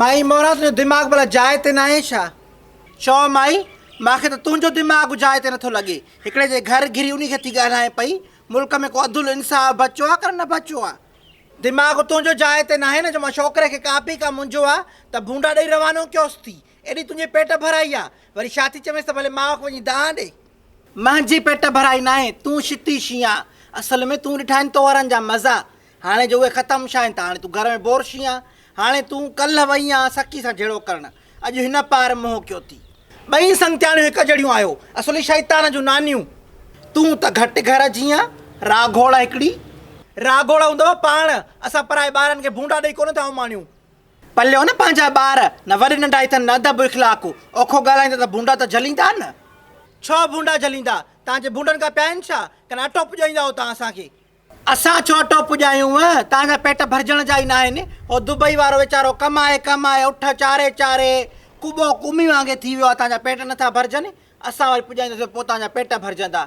مائي موران تنهنجو دماغ ڀلا جاء تي ناهي ڇا؟ چؤ مائي، مان کي ته تنهنجو دماغ جاء تي نٿو لڳي. هڪڙي جي گهر گهري انهي کي ٿي ڳالهائين پئي. ملڪ ۾ ڪو عدل انصاف بچو آ ڪن نه بچو آ. دماغ تنهنجو جاء تي ناهي نه جو مان ڇوڪري کي ڪاپي ڪا منجهو آ ته ڀونڊا ڏئي روانو ڪيوس ٿي. ايڏي تنهنجي پيٽ ڀرائي آ، وري ڇا ٿي چوينس ته ڀلي ماء کي وڃي دانهن ڏي. منهنجي پيٽ ڀرائي ناهي، تون شتي شينهن آ، اصل ۾ تون ڏٺا آهن تئوهارن جا مزا، هاڻي جو اهي ختم ڇا آهن ته هاڻي تون گهر ۾ بور شينهن آ، هاڻي تون ڪلهه وئي آن سڪي سان جهيڙو ڪرڻ، اڄ هن پار منهن ڪيو ٿي. ٻئي سنگتياڻيون هڪ جهڙيون آهيو، اصل ئي شيطان جون نانيون. تون ته گهٽ گهر جي آن، راگهوڙ هڪڙي. راگهوڙ هوندو پاڻ، اسان پرائي ٻارن کي ڀونڊا ڏئي ڪونه ٿا اماڻيون. پليو نه پنهنجا ٻار، نه وڏي ننڍا اٿن نه ادب اخلاق، اوکو ڳالهائيندا ته ڀونڊا ته جهليندا نه. ڇو ڀونڊا جهليندا؟ تان جي ڀونڊن کان پيا آهن ڇا؟ ڪن اٽو پڄائيندا هو تان اسان کي. اسان ڇو اٽو پڄايون؟ تان جا پيٽ ڀرجڻ جا ئي ناهن. هو دبئي وارو ويچارو ڪمائي ڪمائي اٺ چاري چاري ڪٻو ڪومي وانگي ٿي ويو آهي تان جا پيٽ نٿا ڀرجن، اسان وري پڄائينداسين پوء تان جا پيٽ ڀرجندا.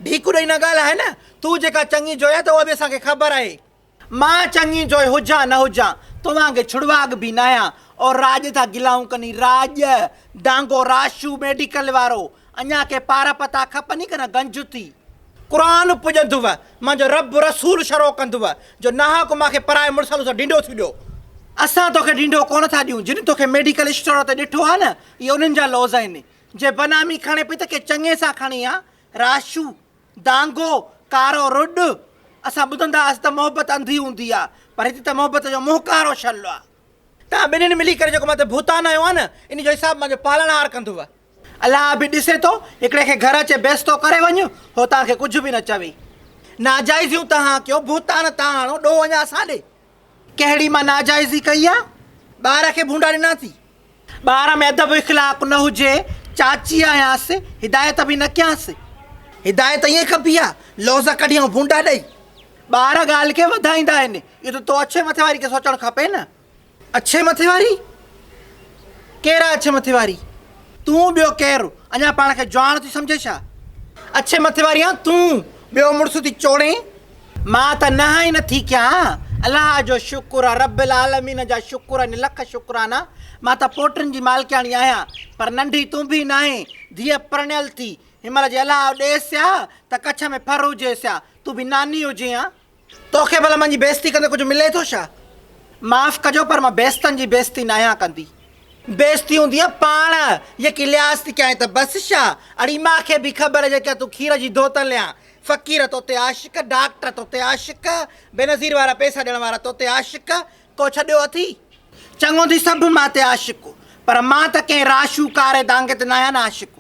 ڍيڪو ڏئي نه ڳالهاء نه، تون جيڪا چڱي جوئي آهي ته اها به اسان کي خبر آهي. مان چڱي جوئي هجان نه هجان، توهان کي ڇڙواڳ به ناهيان اور راڄ ٿا گلائون ڪني راڄ، ڊانگو راشو ميڊيڪل وارو، اڃا ڪي پار پتا کپني ڪنه گنج ٿي. قرآن پڄندوء، مان جو رب رسول شروع ڪندوء، جو ناحق مان کي پرائي مڙس سان تون ڍينڍو ٿيون ڏيو. اسان توکي ڍينڍو ڪونه ٿا ڏيون، جن توکي ميڊيڪل اسٽور تي ڏٺو آهي نه، اهي انهن جا لوظ آهن، جي بنامي کڻي پئي ته ڪي چڱي سان کڻي ها، راشو، دانگو، ڪارو رڏ، اسان ٻڌندا هئاسين ته محبت انڌي هوندي آ، پر هتي ته محبت جو منهن ڪارو ڇل آ. توهان ٻنهين ملي ڪري جيڪو مٿي ڀوتان هنيو آ نه، انهي جو حساب مانجو پالڻهار ڪندو. الله به ڏسي ٿو، هڪڙي کي گهر اچي بيستو ڪري وڃ، هو توهان کي ڪجهه به نه چوي. ناجائزيون توهان ڪيو، ڀوتان تان هڻو، ڏوهه اڃا اسان ڏي. ڪهڙي مان ناجائزي ڪئي آ؟ ٻار کي ڀونڊا ڏنا ٿي؟ ٻار ۾ ادب اخلاق نه هجي، چاچي آهيانس، هدايت به نه ڪيانس. هدايت ائين ڪبي آ، لوظ ڪڍي ۽ ڀونڊا ڏئي. ٻار ڳالهه کي وڌائيندا آهن، اهو ته تو اڇي مٿي واري کي سوچڻ کپي نه. اڇي مٿي واري؟ ڪير آ اڇي مٿي واري؟ تون ٻيو ڪير؟ اڃا پاڻ کي جواڻ ٿي سمجهين ڇا؟ اڇي مٿي واري آن تون، ٻيو مڙس ٿي چوڙين. مان ته نه هائي نه ٿي ڪيان الله جو شڪر آ رب العالمين جا شڪر آهن لک شڪرانا مان ته پوٽن جي مالڪياڻي آهيان پر ننڍي تون به ناهين ڌيء پرڻيل ٿي هن مهل جي الله ڏيس ها ته ڪڇ ۾ ڦر هجيس ها تون به ناني هجين ها توکي ڀلا منهنجي بيزتي ڪندي ڪجهه ملي ٿو ڇا معاف ڪجو پر مان بيزتن جي بيزتي ناهيان ڪندي. بيزتي هوندي آ پاڻ يڪي لحاظ ٿي ڪيانء ته بس ڇا اڙي مان کي به خبر جيڪا تون کير جي ڌوتل يا فقير توتي عاشق، ڊاڪٽر توتي عاشق، بينظير وارا پيسا ڏيڻ وارا توتي عاشق، ڪو ڇڏيو اٿئي؟ چڱو ٿي سڀ مان تي عاشق، پر مان ته ڪنهن راشو ڪاري دانگي تي ناهيان عاشق.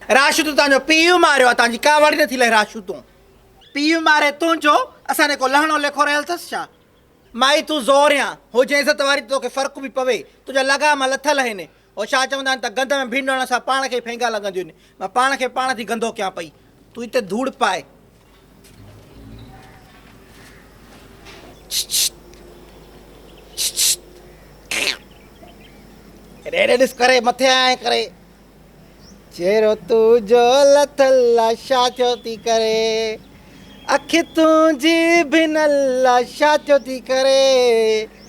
راشو تون تانجو پيء ماريو آ تانجي ڪا وڙ نٿي لهي راشو تون. پيء ماري تونجو اسان ڏي ڪو لهڻو ليکو رهيل ٿس ڇا؟ مائي تون زوريان هجين عزت واري ته توکي فرق به پوي تنهنجا لغام لٿل هين او شاهه چوندا آهن ته گند ۾ ڀينڊڻ سان پاڻ کي ئي ڦينگا لڳنديون آهن. مان پاڻ کي پاڻ ٿي گندو ڪيان پئي. تون هتي ڌوڙ پاء. ڇڇ ڇڇ ڇڇ هيڏي هيڏي ڏس ڪري مٿي آيا آهين ڪري. چهرو تنهنجو لٿل لاشا ٿيو ٿي ڪري. اک تنهنجي ڀنل لاشا ٿيو ٿي ڪري.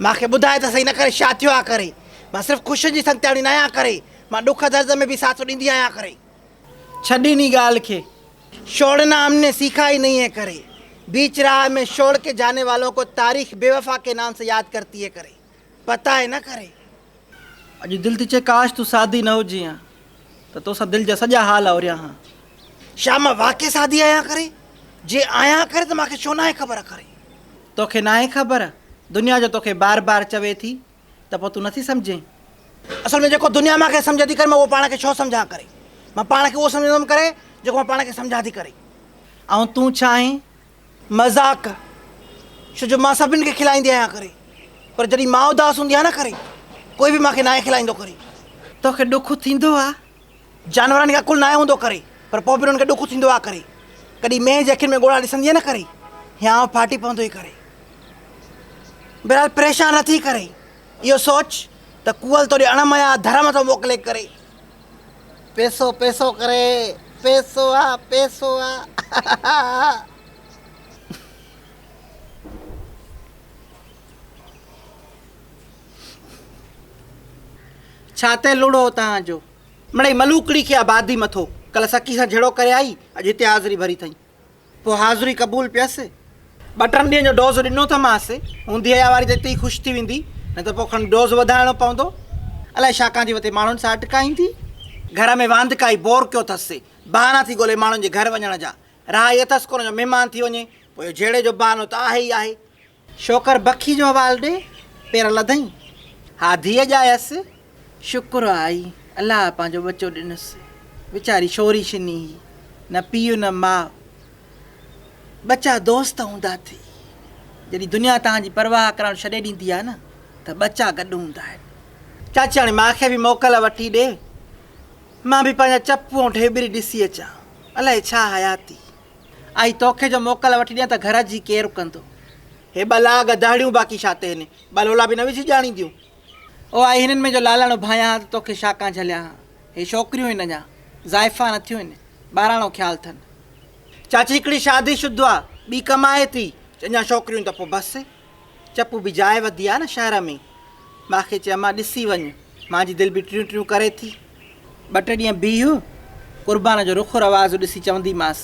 مان کي ٻڌاء ته سهي نه ڪري شا ٿيو آ ڪري مان صرف خوشين جي سنگتياڻي نه آهيان ڪري مان ڏک درد ۾ به ساٿ ڏيندي آهيان ڪري. ڇڏ انهي ڳالهه کي شوڙنا هم ني سيکا هي نهين هي ڪري بيچ راهه مين شوڙ ڪي جاني والون ڪو تاريخ بي وفا ڪي نام سي ياد ڪرتي هي ڪري پتا هي نه ڪري. اڄ دل ٿي چئي ڪاش تون سادي نه هجين ها ته توسان دل جا سڄا حال اوريان ها. شا مان واقعي سادي آهيان ڪري؟ جي آهيان ڪري ته مان کي ڇو ناهي خبر ڪري؟ توکي ناهي خبر؟ دنيا جو توکي بار بار چوي ٿي ته پوء تون نه ٿي سمجهين؟ اصل ۾ جيڪو دنيا مان کي سمجهي ٿي ڪري مان اهو پاڻ کي ڇو سمجهان ڪري؟ مان پاڻ کي اهو سمجهندم ڪري جيڪو مان پاڻ کي سمجهان ٿي ڪري. آئون تون ڇا آهين؟ مذاق، ڇو جو مان سڀني کي کلائيندي آهيان ڪري پر جڏهن مان اداس هوندي آهيان نه ڪري ڪوئي به مان کي ناهي کلائيندو ڪري. توکي ڏک ٿيندو آ؟ جانورن کي عقل ناهي هوندو ڪري پر پوء به انهن کي ڏک ٿيندو آ ڪري. ڪڏهن مينهن جي اکين ۾ ڳوڙها ڏسندينء نه ڪري هيانء ڦاٽي پوندو ئي ڪري. بهرحال پريشان نه ٿي ڪري اهو سوچ ته ڪوئل توڏي اڻ مئا ڌر مٿو موڪلي ڪري پيسو پيسو ڪري پيسو آ پيسو آ ڇا تي لوڙهو اتان جو. مڙئي ملوڪڙي کي آبادي مٿو ڪل سڪي سان جھيڙو ڪري آئي اڄ هتي حاضري ڀري اٿئين. پوء حاضري قبول پيس. ٻه ٽن ڏينهن جو ڊوز ڏنو ته مانس، هوندي هيا واري ته اتي ئي خوش ٿي ويندي، نه ته پوء کڻي ڊوز وڌائڻو پوندو. الائي ڇا ڪان ٿي وتي ماڻهن سان اٽڪائيندي. گهر ۾ واندڪائي بور ڪيو ٿس سي بهانا ٿي ڳولهي ماڻهن جي گهر وڃڻ جا. راهه هيء ٿس ڪونه جو مهمان ٿي وڃي، پوء اهو جهيڙي جو بهانو ته آهي ئي آهي. شوڪر بکي جو حوال ڏي پير لڌئين ها ڌيء ڄايس شڪر آهي الله پنهنجو ٻچو ڏنس ويچاري شوري شني هئي نه پيء نه ماء ٻچا دوست هوندا اٿئي جڏهن دنيا تان جي پرواهه ڪرڻ ڇڏي ڏيندي آهي نه ته ٻچا گڏ هوندا آهن چاچياڻي مان کي به موڪل وٺي ڏي مان به پنهنجا چپ ۽ ڍيبري ڏسي اچان الائي ڇا حياتي آء توکي جو موڪل وٺي ڏيان ته گهر جي ڪير ڪندو؟ هي ٻه لاء گدهڙيون باقي ڇا تي هني ٻه لولا به نه وجهي ڄاڻينديون. او آء هنن ۾ جو لالڻ اڀايان ها ته توکي شاڪان جهليان ها. هي ڇوڪريون هن اڃا زائفان نه ٿيون هن ٻاراڻو خيال ٿن. چاچي هڪڙي شادي شدو آ ٻي ڪمائي ٿي اڃا ڇوڪريون ته پوء بس. چپ به جاء وڌي آ نه شهر ۾. مان کي چيم مان ڏسي وڃ مان جي دل به ٽريون ٽريون ڪري ٿي. ٻه ٽي ڏينهن بيهه قربان جو رخ رواز ڏسي چوندي مانس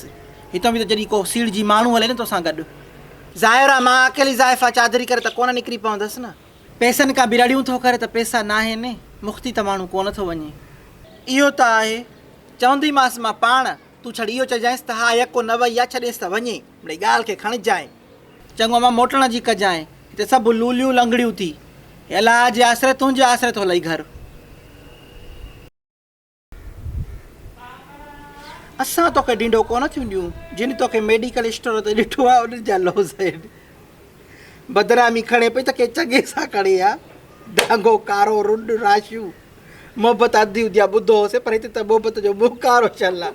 هتان به ته جڏهن ڪو سيڙ جي ماڻهو هلي نه توسان گڏ. ظاهر آ مان اڪيلي زائفا چادري ڪري ته ڪونه نڪري پوندس نه. پئسن ڪا به رڙيون ٿو ڪري ته پئسا ناهن مختي ته ماڻهو ڪونه ٿو وڃي. اهو ته آهي چوندي مانس مان پاڻ تون ڇڙ اهو چئجانس ته ها يڪو نه وئي آ ڇڏيس ته وڃي. مڙئي ڳالهه کي کڻجانء. چڱو امان موٽڻ جي ڪجانء. هتي سڀ لوليون لنگڙيون ٿي. هي الاء جي آسري تنهنجي آسري ٿو لئي گهر. اسان توکي ڊينڊو ڪونه ٿيون ڏيون. جن توکي ميڊيڪل اسٽور تي ڏٺو آهي انهن جا لوز آهن. بدنامي کڻي پئي ته ڪنهن چڱي سان کڻي ها. ڊانگو ڪارو رنڊ راشيون. محبت اڌ هوندي آهي ٻڌو هوسين پر هتي ته محبت جو منهن ڪارو شل آهي.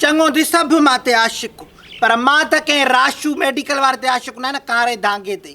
چڱو ٿي سڀ مان تي عاشق پر مان ته ڪنهن راشو ميڊيڪل واري تي عاشق نه آهيان نه ڪاري دانگي تي